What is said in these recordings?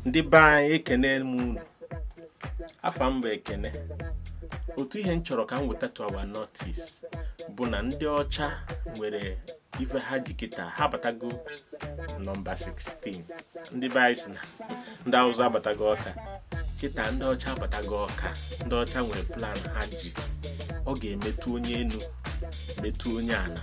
ndị be anyị ekene m unu afa m bụ ekene otu ihe m chọrọ ka m weta to our notice bụ na ndị ọcha nwere ife ha ji kịta ha batago nọmba 16 ndị be anyị si na ndị awụsa abatago ọka kịta ndị ọcha abatago ọka ndị ọcha nwere plan ha ji ọ ga-emetụ onye enu metụ onye ana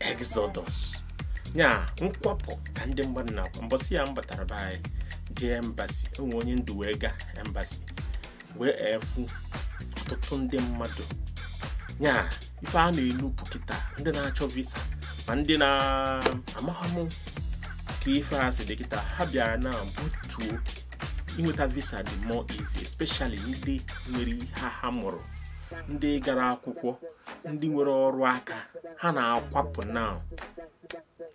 exodus ya nkwapụ ka ndị mmadụ na-akwa mbọsị ya m batara be anyị jee embassy e nwee onye ndụ wee gaa embassy wee fụ ọtụtụ ndị mmadụ ya ife a na-enupụ kịta ndị na-achọ visa ma ndị na-amaghị ka ife a si dị kịta ha bịara na butuo inweta visa dị more easy especially ndị nwere ihe ha mụrụ ndị gara akwụkwọ ndị nwere ọrụ aka ha na-akwapụ na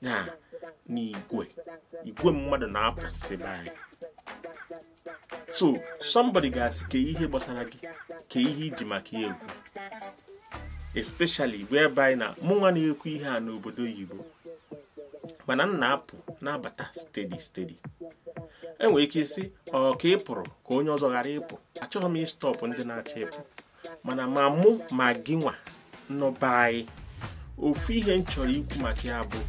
ya n'igwe igwe mmadụ na-apụsị be anyị so somebody ga-asị kee ihe gbasara gị kee ihe i ji maka ya ekwu especially whereby na mụnwa na-ekwu ihe a nọ obodo oyibo mana m na-apụ na-abata steady steady e nwere ike ịsị ọ ka ị pụrụ ka onye ọzọ ghara ịpụ achọghị m ịstọpụ ndị na-achọ ịpụ mana ma mụ ma gịnwa nọ be anyị ofu ihe m chọrọ ikwu maka ya bụ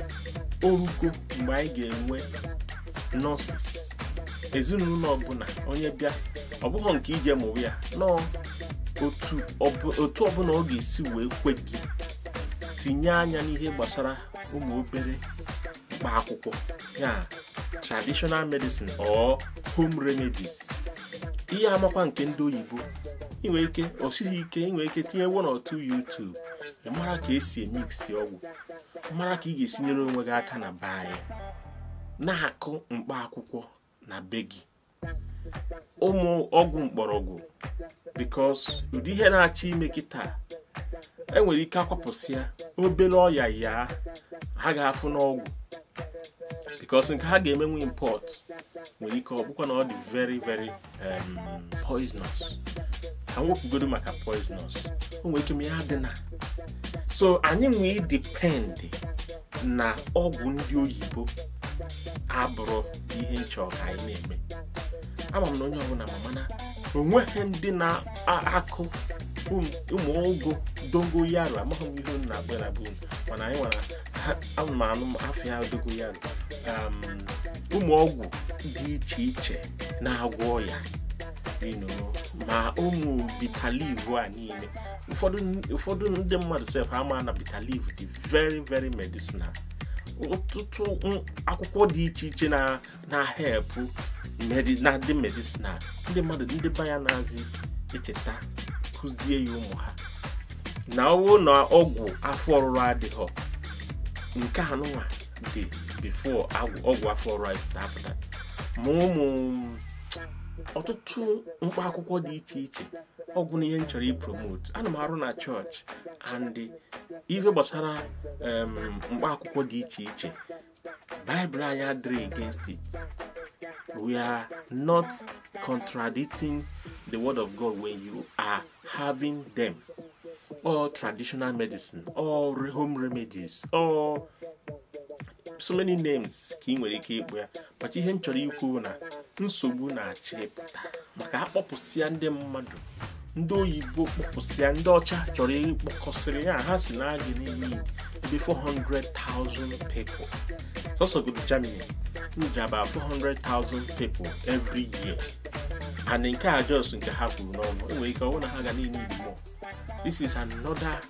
orugo mgbe anyị ga-enwe nurses ezinụlọ ọbụla onye bịa ọ bụghị nke ije mụwa ya no otu ọbụla ọ ga-esi wee kwe gị tinye anya n'ihe gbasara ụmụ obere mkpa akwụkwọ ya traditional medicine or home remedies ihe amakwa nke ndị oyibo i nwee ike o sighị ike i nwee ike tinye one or two YouTube ị mara ka e si emiksi ọgwụ mara ka ị ga-esi nyere onwe gị aka na be anyị na-akụ mkpa akwụkwọ na be gị ụmụ ọgwụ mkpọrọgwụ because ụdị ihe na-achọ ime kịta e nwere ike akwapụsịa obere ọya ya ha ga-afụ n'ọgwụ because nke ha ga-emenwu import nwere ike ọ bụkwa na ọ dị very very um, poisonous ka m wepụgodu maka poisonous o nwere ike ma ya dị na so anyị wee depend na ọgwụ ndị oyibo abụrọ ihe m chọ ka anyị na-eme ama m na onye ọbụla ma mana o nweghị ndị na-akụ ụmụ ogo dogoyaro amaghị m ihe unu na-akpọ ya na be unu mana anyị nwara anụmanụ afa ya dogoyaro um, ụmụ ọgwụ dị iche iche na-agwọ ọya you know, ma ụmụ bitter leaf a niile ụfọdụ ụfọdụ ndị mmadụ sef ama na bitter leaf dị very very medicinal ọtụtụ akwụkwọ dị iche iche na-help na dị medicinal ndị mmadụ ndị be anyị anazị echeta kụzie ya ụmụ ha na ọwụ na ọgwụ afọ ọrụrụ adịghọ nke anụnwa dị before ọgwụ afọ ọrụrụ apụta ma ụmụ ọtụtụ mkpa akwụkwọ dị iche iche ọgwụ na ihe m chọrọ ipromote ana m arụ na chọọchị and ife gbasara mkpa akwụkwọ dị iche iche baịbụl anyị adịrị against it we are not contradicting the word of god when you are having them or traditional medicine or home remedies or so many names ka ị nwere ike ịkpọ ya but ihe m chọrọ ikwu na nsogbu na-achọ ịpụta maka a kpọpụsịa ndị mmadụ ndị oyibo kpọpụsịa ndị ọcha chọrọ ịkpọkọsịrị ya ha sị na a ga-need ebe 400,000 people sọsọ godu Germany need about 400,000 people every year and nke a just nke ha kwuru n'ọnụ e nwere ike ọ wụ na ha ga-need more this is another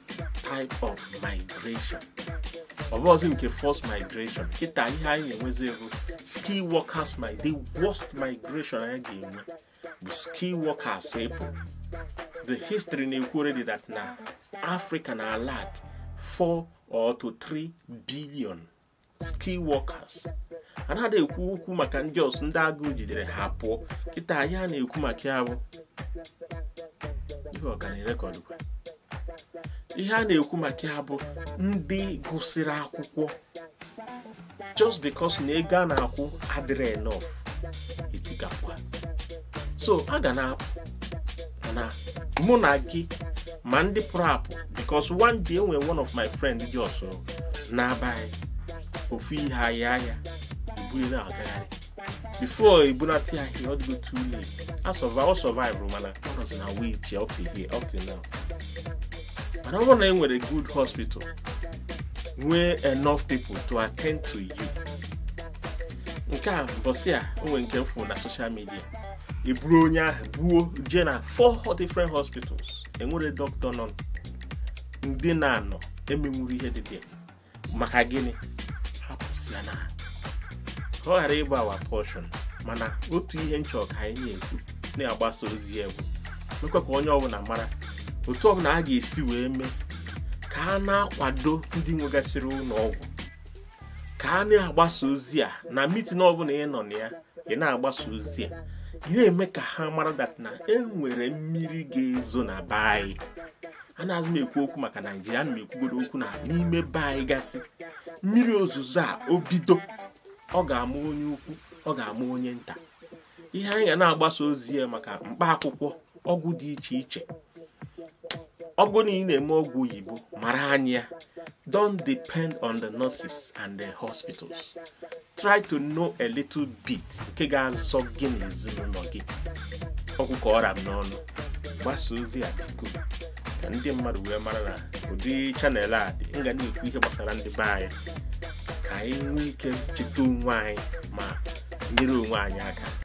type of migration ọ bụrọzị nke forced migration kịta ihe anyị na-enwezi bụ skill workers the worst migration anyị ga-enwe bụ skill workers ịpụ the history na-ekwu already that na africa na-alack 4 or to 3 billion skill workers a na-ada ekwu okwu maka ndị just ndị agụụ jidere ha pụọ kịta ihe a na-ekwu maka ya bụ ihe ọ ka na-erekọdụkwa ihe a na-ekwu maka ya bụ ndị gụsịrị akwụkwọ just because na ego a na-akwụ adịrị enough etikapụ so a ga na-apụ mana mụ na gị ma ndị pụrụ apụ because one day e nwere one of my friend just n'abanị ofu ihe ahịa ahịa e buru na-agagharị before e bunata ya ihe ọ dịgo too late a survive ọ survive mana ọ nọzi na wheelchair up to here up to now mana ọ bụrụ na e nwere good hospital nwee enough people to attend to you nke a mbọsị a o nwe nke m fụ na social media e buru onye ahụ buo jee na four different hospitals enwere dọkịta nọ ndị na-anọ emenwuru ihe dị dị maka gịnị ha apụsịana ka ọ ghara ịbụ our portion mana otu ihe m chọ ka anyị na-ekwu na-agbasa ozi ya bụ mekwa ka onye ọbụla mara otu ọbụla a ga-esi wee mee ka a na-akwado ndị nwegasịrị ụlọ ọgwụ ka a na-agbasa ozi a na meeting ọbụla ị nọ na ya ị na-agbasa ozi a ị na-eme ka ha mara that na e nwere mmiri ga-ezo na be anyị anazị m ekwu okwu maka naijiria ana m ekwugodo okwu na n'ime be anyị gasị mmiri ozuzo a o bido ọ ga-ama onye ukwu ọ ga-ama onye nta ihe anyị ga na-agbasa ozi ya maka mkpa akwụkwọ ọgwụ dị iche iche ọ bụrụ na ị na-eme ọgwụ oyibo mara anya don't depend on the nurses and the hospitals try to know a little bit nke ga-azọ gị na ezinụlọ gị ọ bụ ka ọ ra m n'ọnụ gbasa ozi a biko ka ndị mmadụ wee mara na ụdị channel a dị m ga na-ekwu ihe gbasara ndị be anyị ka anyị nwee ike cheta onwe anyị ma nyere onwe anyị aka